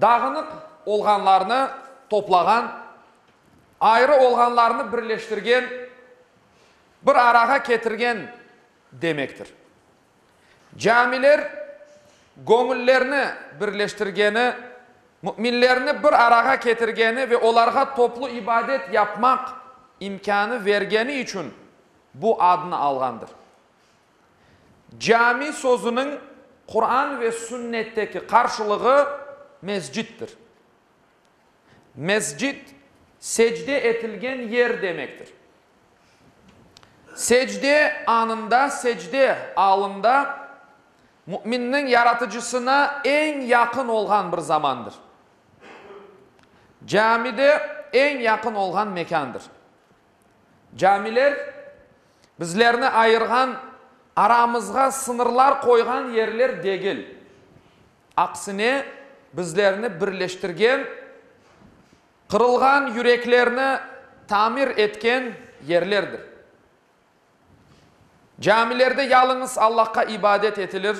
Dağınıq olğanlarnı toplağan, ayrı olğanlarnı birleştirgen, bir arağa ketirgen demektir. Camiler göñüllerni birleştirgeni, müminlerni bir arağa ketirgeni ve olarğa toplu ibadet yapmaq imkânı vergeni içün bu adnı alğandır. Cami sözüniñ Quran ve Sünnetteki qarşılığı mescittir. Mescit, secde etilgen yer demektir. Secde anında, secde alında müminniñ Yaratıcısına eñ yaqın olğan bir zamandır. Cami de eñ yaqın olğan mekândır. Camiler, bizlerni ayırğan, aramızğa sıñırlar qoyğan yerler degil, aksine, bizlerni birleştirgen, qırılğan yüreklerni tamir etken yerlerdir. Camilerde yalıñız Allahqa ibadet etilir,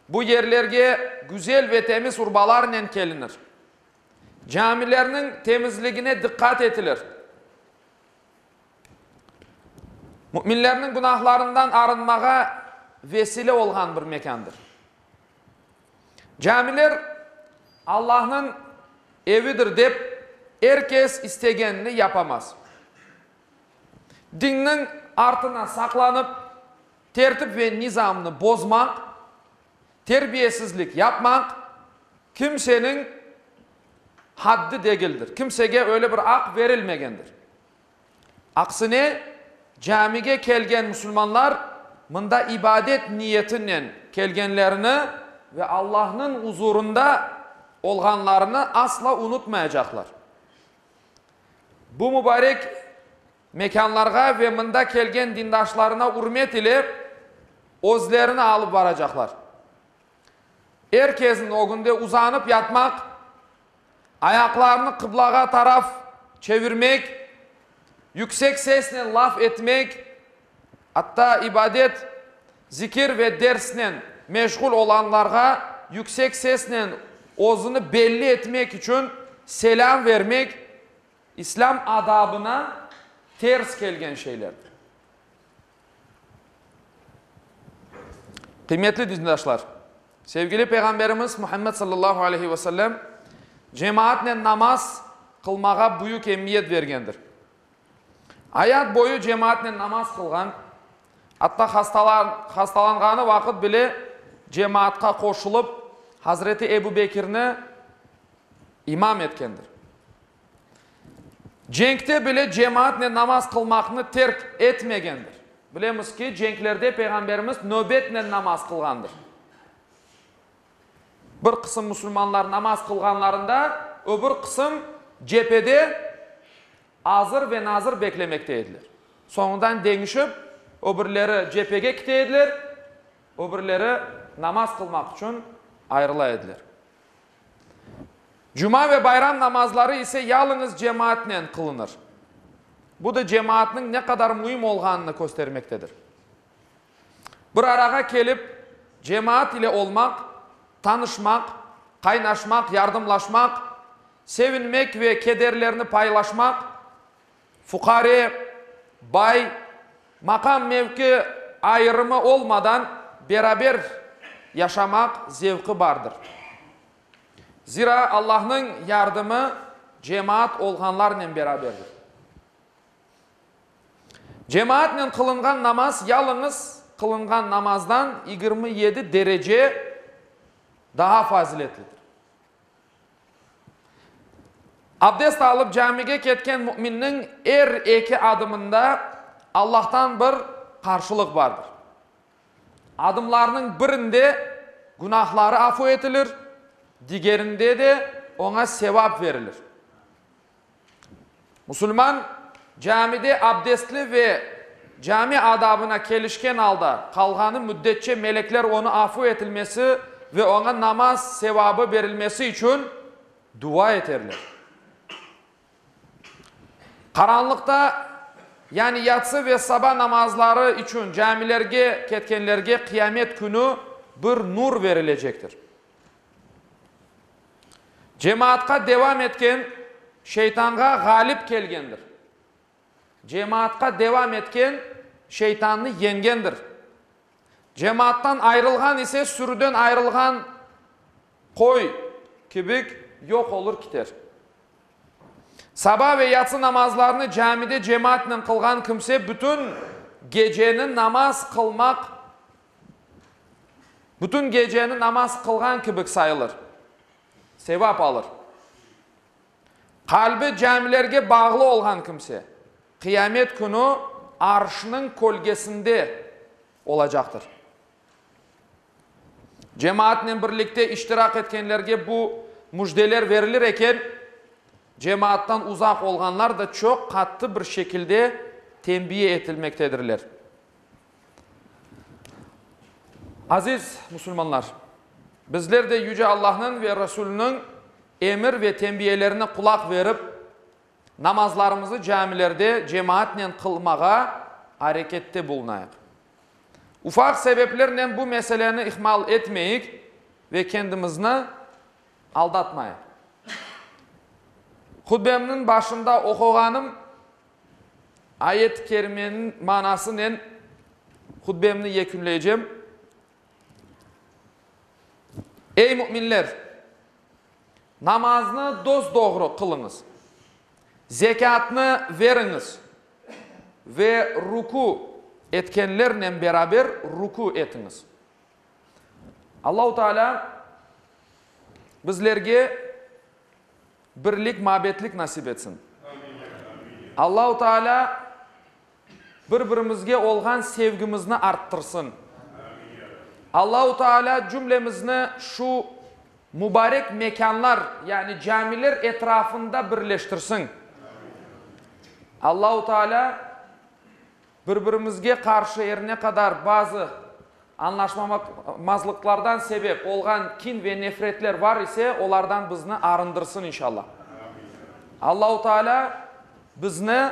bu yerlerge güzel ve temiz urbalarnen kelinir. Camilerniñ temizligine diqqat etilir. Müminlerniñ günahlarından arınmağa vesile olğan bir mekândır. Camiler Allahnıñ evidir dep, er kes istegenini yapamaz. Dinniñ artına saqlanıp, tertip ve nizamnı bozmaq, Terbiyesizlik yapmaq kimseniñ haddi degildir, kimsege öyle bir aq berilmegendir. Aksine, camige kelgen musulmanlar mında ibadet niyetinen kelgenlerini ve Allahnıñ uzurında olğanlarını asla unutmayacaqlar. Bu mübarek Mekânlarğa ve mında kelgen dindaşlarına ürmet ile özlerini alıp baracaqlar. Er kezin ögünde uzanıp yatmaq, ayaqlarını qıblağa taraf çevirmek, yüksek sesnen laf etmek, atta ibadet, zikir ve dersnen meşğul olanlarğa yüksek sesnen özüni belli etmek içün selâm vermek İslâm adabına ters kelgen şeylerdir. Qıymetli dindaşlar, sevgili Peyğamberimiz Muhammed sallallahu aleyhi ve sellem cemaatnen namaz qılmağa büyük emiyet bergendir. Ayat boyu cemaatnen namaz qılğan, atta hastalanğanı vaqıt bile cemaatqa qoşulıp, Hazreti Ebu Bekirni imam etkendir. Cenkte bile cemaatnen namaz qılmaqnı terk etmegendir. Bilemiz ki, cenklerde Peyğamberimiz növbetnen namaz qılğandır. Bir qısım musulmanlar namaz qılğanlarında, öbür qısım cephede azır ve nazır beklemekte ediler. Soñundan deñişip, öbürleri cephege kite ediler, öbürleri namaz qılmaq içün ayırıla ediler. Cuma ve bayram namazları ise yalıñız cemaatnen qılınır. Bu da cemaatnıñ ne qadar müim olğanını köstermektedir. Bir arağa kelip, cemaat ile olmaq, tanışmaq, qaynaşmaq, yardımlaşmaq, sevinmek ve kederlerni paylaşmaq, Fuqare, bay, maqam-mevki ayırımı olmadan beraber yaşamaq zevqi bardır. Zira Allahnıñ yardımı cemaat olğanlarnen beraberdir. Cemaatnen qılınğan namaz yalıñız qılınğan namazdan yigirmi yedi derece daha faziletlidir. Abdest alıp camige ketken müminniñ er eki adımında Allahtan bir qarşılıq bardır. Adımlarnıñ birinde günahları afu etilir, digerinde de oña sevap verilir. Musulman camide abdestli ve cami adabına kelişken alda qalğanı müddetçe melekler onı afu etilmesi ve oña namaz sevabı berilmesi içün dua eterler. Qaranlıqta, yani yatsı ve saba namazları içün camilerge ketkenlerge Qıyamet künü bir nur verilecektir. Cemaatqa devam etken şeytanğa ğalip kelgendir. Cemaatqa devam etken şeytannı yengendir. Cemaattan ayrılğan ise sürüden ayrılğan qoy kibik yoq olur kiter. Saba ve yatsı namazlarını camide cemaatnen qılğan kimse bütün geceni namaz qılmaq Bütün geceni namaz qılğan kibik sayılır, sevap alır. Qalbi camilerge bağlı olğan kimse, Qiyamet künü Arşnıñ kölgesinde olacaqtır. Cemaatnen birlikte iştiraq etkenlerge bu müjdeler verilir eken, cemaattan uzaq olğanlar da çoq qattı bir şekilde tenbiye etilmektedirler. Aziz musulmanlar! Bizler de Yüce Allahnıñ ve Rasuliniñ emir ve tenbiyelerine qulaq verip, namazlarımızı camilerde cemaatnen qılmağa arekette bulunayıq. Ufaq sebeplernen bu meseleni ihmal etmeyik ve kendimizni aldatmayıq. Hutbemniñ başında oquğanım Ayet-i kerimeniñ manasınen hutbemni yekünleycem. Ey müminler! Namaznı dos-doğru qılıñız, zekâtnı veriñiz ve rükû etkenlernen beraber rükû etiñiz. Allahu Taalâ bizlerge Birlik mabetlik nasip etsin. Allahu Taala bir birimizge olğan sevgimizni arttırsın. Allahu Taala cümlemizni şu mubarek mekanlar yani camiler etrafında birleştirsin. Allahu Taala Bir-birimizge qarşı er ne qadar bazı añlaşmamazlıqlardan sebep olğan kin ve nefretler bar ise, olardan bizni arındırsın, inşallah. Allahu Taalâ bizni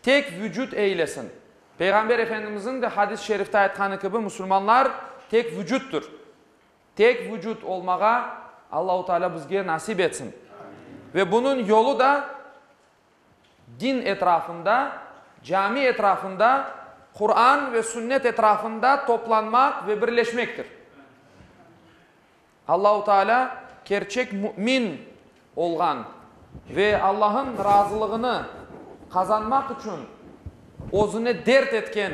tek vucut eylesin. Peyğamber Efendimizniñ de hadis-i şerifte aytqanı kibi, musulmanlar tek vucuttur. Tek vucut olmağa Allahu Taalâ bizge nasip etsin. Ve bunıñ yolu da Din etrafında, cami etrafında, Quran ve sünnet etrafında toplanmaq ve birleşmektir. Allahu Teala kerçek mümin olğan ve Allah'ın razılığını qazanmaq içün özüne dert etken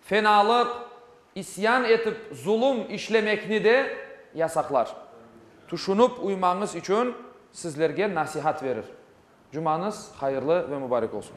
Fenalıq, isyan etip zulum işlemekni de yasaqlar. Tüşünip uymañız içün sizlerge nasihat verir. Cumañız hayırlı ve mübarek olsun.